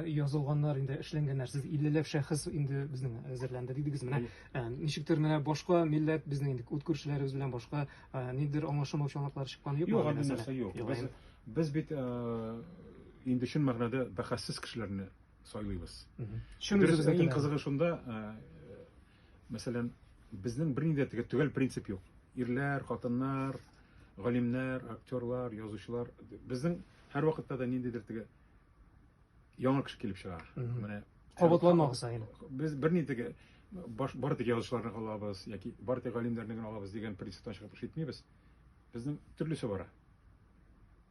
язылганнар инде эшләнгәннәр сез иллеләп шәхес инде безнең әзерләнде дидегез менә ә, ничектер менә башка милләт безнең инде үт күршеләребез белән башка ә, ниндидер аңлашылмау чалмаклары чыкканы юкмы юк андый нәрсә юк без, без бит ә, инде чын мәгънәдә бәхәссез кешеләрне сайлыйбыз чын дөрес иң кызыгы шунда ә, мәсәлән безнең бернинди дә төгәл принцип юк ирләр хатыннар галимнәр актерлар язучылар безнең һәрвакытта да ниндидер теге яңа кеше килеп чыга. Менә кабатланма кыса генә. Без бер ни теге баш бар теге язучыларны алабыз яки бар теге галимнәрне генә алабыз дигән принциптан чыгып эш итмибез. Безнең төрлесе бара.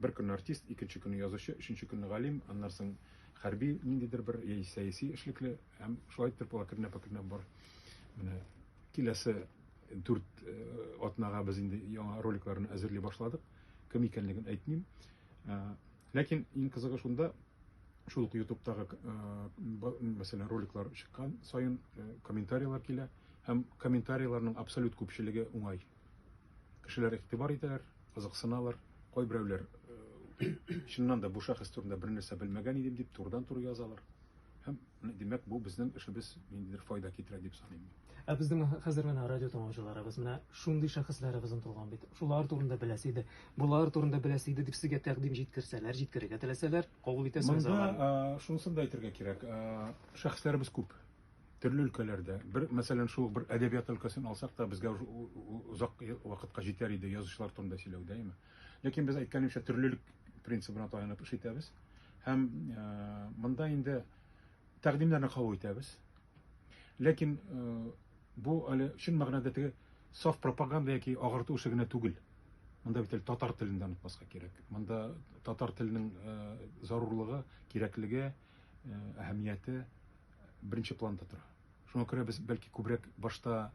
Бер көн артист, икенче көнне язучы, өченче көнне галим, аннан соң хәрби ниндидер бер яки сәяси эшлекле һәм шулай итеп була кернә пакернә бар. Менә киләсе дүрт э, атнага без инде яңа роликларны әзерли башладык. Кем икәнлеген әйтмим. Э, Ләкин иң кызыгы шунда, шул ук ютубтагы мәсәлән роликлар чыккан саен комментарийлар килә һәм комментарийларның абсолют күпчелеге уңай кешеләр игътибар итәләр кызыксыналар кайберәүләр чыннан да бу шәхес турында бернәрсә белмәгән идем дип турыдан туры язалар Һәм, димәк, бу безнең эшебез ниндидер файда китерә дип саныйм мин. Ә безнең хәзер менә радио тыңлаучыларыбыз менә шундый шәхесләребез онтылган бит. Шулар турында беләсе иде, болар турында беләсе иде дип сезгә тәкъдим җиткерсәләр, җиткерергә теләсәләр, кабул итәсегез аларны? Монда шунысын да әйтергә кирәк. Шәхесләребез күп. Төрле өлкәләрдә. Бер, мәсәлән, шул бер әдәбият өлкәсен алсак та, безгә озак вакытка җитәр иде язучылар турында сөйләү, дәйме? Ләкин без әйткәнемчә төрлелек принцибына таянып эш итәбез. Һәм э, монда инде тәкъдимнәрне кабул итәбез. Ләкин э, бу әле чын мәгънәдә теге саф пропаганда яки агарту эше генә түгел. Монда бит әле татар телен дә онытмаска кирәк. Монда татар теленең э, зарурлыгы, кирәклеге, әһәмияте беренче планда тора. Шуңа күрә без, бәлки, күбрәк башта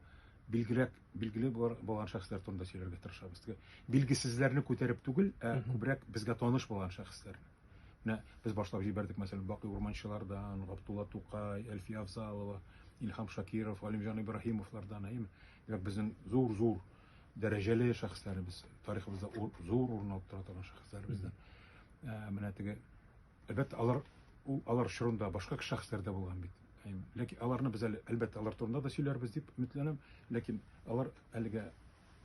билгерәк, билгеле булган шәхесләр турында сөйләргә тырышабыз. Теге билгесезләрне күтәреп түгел, ә күбрәк безгә таныш булган шәхесләр. Менә без башлап җибәрдек, мәсәлән, Бакый Урманчылардан, Габдулла Тукай, Әлфия Афзалова, Илһам Шакиров, Алимҗан Ибраһимовлардан, әйеме? Димәк, безнең зур-зур дәрәҗәле шәхесләребез, тарихыбызда зур урын алып тора торган шәхесләребездән. Ә, менә теге Әлбәттә, алар ул алар чорында башка шәхесләр дә булган бит. Ләкин аларны без әле, әлбәттә, алар турында да сөйләрбез дип өметләнәм, ләкин алар әлегә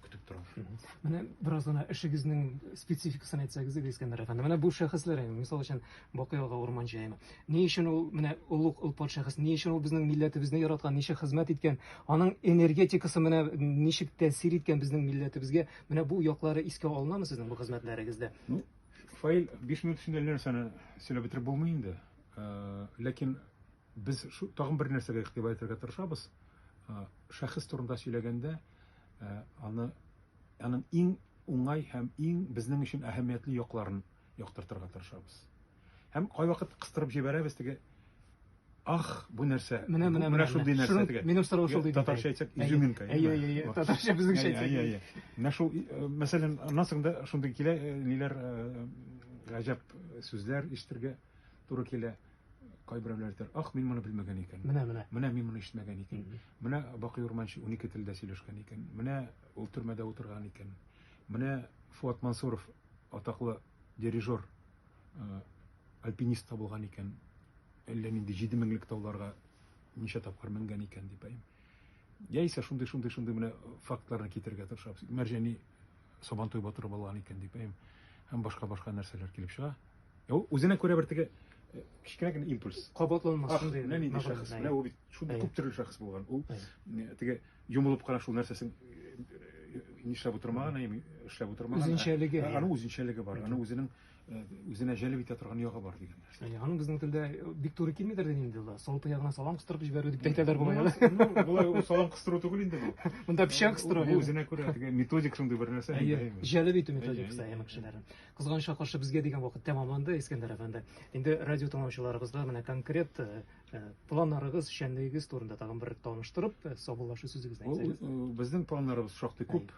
көтеп торалар. Менә бераз гына эшегезнең спецификасын әйтсәгез иде, Искәндәр әфәнде. Менә бу шәхесләр, мисал өчен, Бакый ага Урман җаены. Ни өчен ул менә олуг ылпат шәхес, ни өчен ул безнең милләтебезне яраткан, ничә хезмәт иткән, аның энергетикасы менә ничек тәэсир иткән безнең милләтебезгә, менә бу яклары искә алынамы сезнең бу хезмәтләрегездә? Ну, Фаил, 5 минут эчендә әллә нәрсәне сөйләп бетереп булмый инде. Э, ләкин без тагын бер нәрсәгә игътибар итәргә тырышабыз. Э, шәхес турында сөйләгәндә, э, аны аның иң уңай һәм иң безнең өчен әһәмиятле якларын яктыртырга тырышабыз. Һәм кайвакыт кыстырып җибәрәбез теге Ах, бу нәрсә? Менә, менә, менә шундый нәрсә Шуның- дигән. Минем сорау шул диде. Татарча әйтсәк, Әйе, изюминка. Әйе, әйе, әйе. Вот. Татарча безнеңчә Әйе, әйе, әйтсәк. әйе. Менә шул, э, мәсәлән, аннан да шундый килә, э, ниләр, э, гаҗәп сүзләр ишетергә туры килә. Кайберәүләр әйтер, ах, мин моны белмәгән икән. Менә, менә. Менә мин моны ишетмәгән икән. Менә Бакый Урманчы 12 телдә сөйләшкән икән. Менә ул төрмәдә утырган икән. Менә Фуат Мансуров атаклы Дирижер альпинист та булган икән, әллә нинди җиде меңлек тауларга ничә тапкыр менгән икән дип әйм. Яисә шундый шундый шундый менә фактларны китергә тырышабыз. Мәрҗәни Сабантуй батыры булган икән дип әйм. Һәм башка башка нәрсәләр килеп чыга. Ул үзенә күрә бер теге кечкенә генә импульс. Кабатланмас шундый. Менә нинди шәхес. Менә ул бит Шул бик күп төрле шәхес булган. Ул теге йомылып кара шул нәрсәсен нишләп утырмаган, әйми эшләп утырмаган. Үзенчәлеге. Аның үзенчәлеге бар. Аның үзенең үзенә җәлеп итә торган ягы бар дигән нәрсә. Яни аның безнең телдә бик туры килмидер дин инде ул. Салты ягына салам кыстырып җибәрү дип әйтәләр бугай. Болай салам кыстыру түгел инде бу. Монда печән кыстыру. Бу үзенә күрә теге методик шундый бер нәрсә. Җәлеп итү методикасы әйме кешеләрне. Кызганычка каршы безгә дигән вакыт тәмамланды, Искәндәр әфәнде. Инде радио тыңлаучыларыбызга менә конкрет планнарыгыз, эшчәнлегегез турында тагын бер таныштырып, саубуллашу сүзегезне әйтсәгез. Безнең планнарыбыз шактый күп.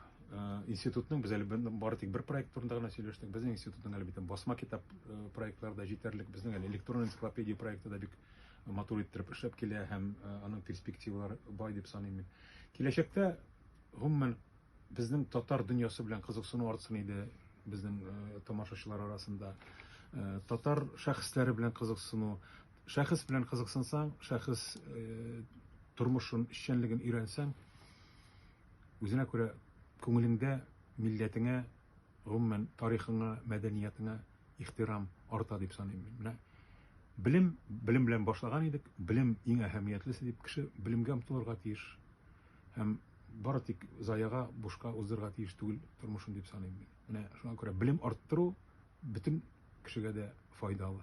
Институтның без әле бары тик бер проект турында гына сөйләштек. Безнең институтның әле бит басма китап проектлары да җитәрлек. Безнең әле электрон энциклопедия проекты да бик матур иттереп эшләп килә һәм аның перспективалары бай дип саныйм мин. Киләчәктә гомумән безнең татар дөньясы белән кызыксыну артсын иде безнең тамашачылар арасында. Татар шәхесләре белән кызыксыну Шәхес белән кызыксынсаң, шәхес тормышын, эшчәнлеген өйрәнсәң, үзенә күрә күңелеңдә милләтеңә, гомумән, тарихыңа, мәдәниятеңә ихтирам арта дип саныйм мин. Менә белем, белем белән башлаган идек, белем иң әһәмиятлесе дип, кеше белемгә омтылырга тиеш һәм бары тик заяга, бушка уздырырга тиеш түгел тормышын дип саныйм мин. Менә шуңа күрә белем арттыру бөтен кешегә дә файдалы.